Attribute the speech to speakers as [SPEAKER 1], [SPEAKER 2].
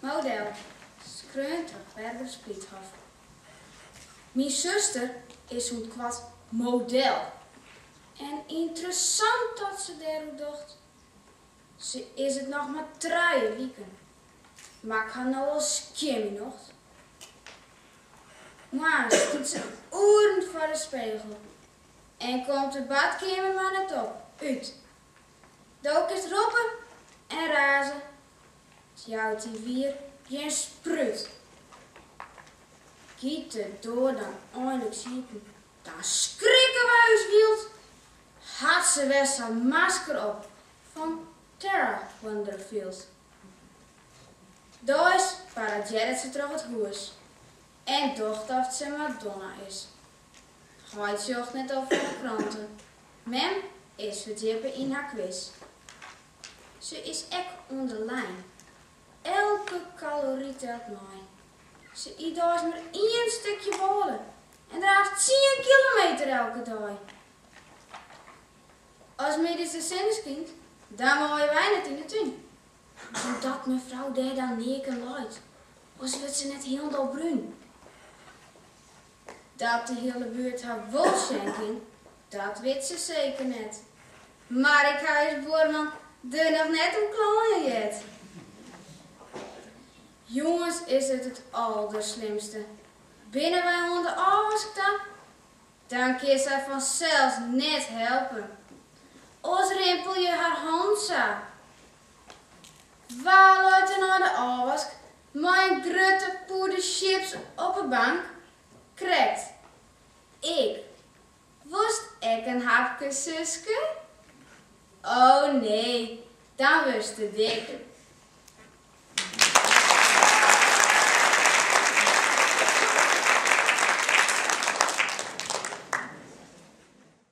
[SPEAKER 1] Model, skreaun troch Berber Spliethoff. Myn suster is sûnt koart model en ynteressant dat se dêroer docht. Se is it noch mar trije wiken, mar ik ha no al skjin myn nocht. Moarns stiet se oeren foar de spegel en komt de badkeamer mar net op, út. Do kinst roppe en raze Jout dy wier gjin sprút. Giet de doar dan einliks iepen, dan skrikke wy ús wyld. Hat se wer sa'n masker op fan Terra Wonderfield. Deis paradearret se troch it hûs en docht oft se Madonna is. Heit sjocht net op fan 'e krante, mem is ferdjippe yn har quiz. Se is ek oan de lijn. Elke kalory telt mei. Se yt deis mar ien stikje bôle en draaft tsien kilometer elke dei. As middeis de sinne skynt, dan meie wy net yn de tún. Omdat mefrou dêr dan neaken leit, oars wurdt se net hielendal brún. Dat de hiele buert har wol sjen kin, dat wit se seker net. Mar ik ha ús buorman der noch net oer kleien heard. Jûns is it it alderslimste. Binne wy oan de ôfwask ta, dan kin sy fansels net helpe. Oars rimpelje har hannen sa. Wa leit der nei de ôfwask Mei in grutte pûde chips op 'e bank krekt, ik. Wolst ek in hapke, Suske? O nee, dan wurdst te dik.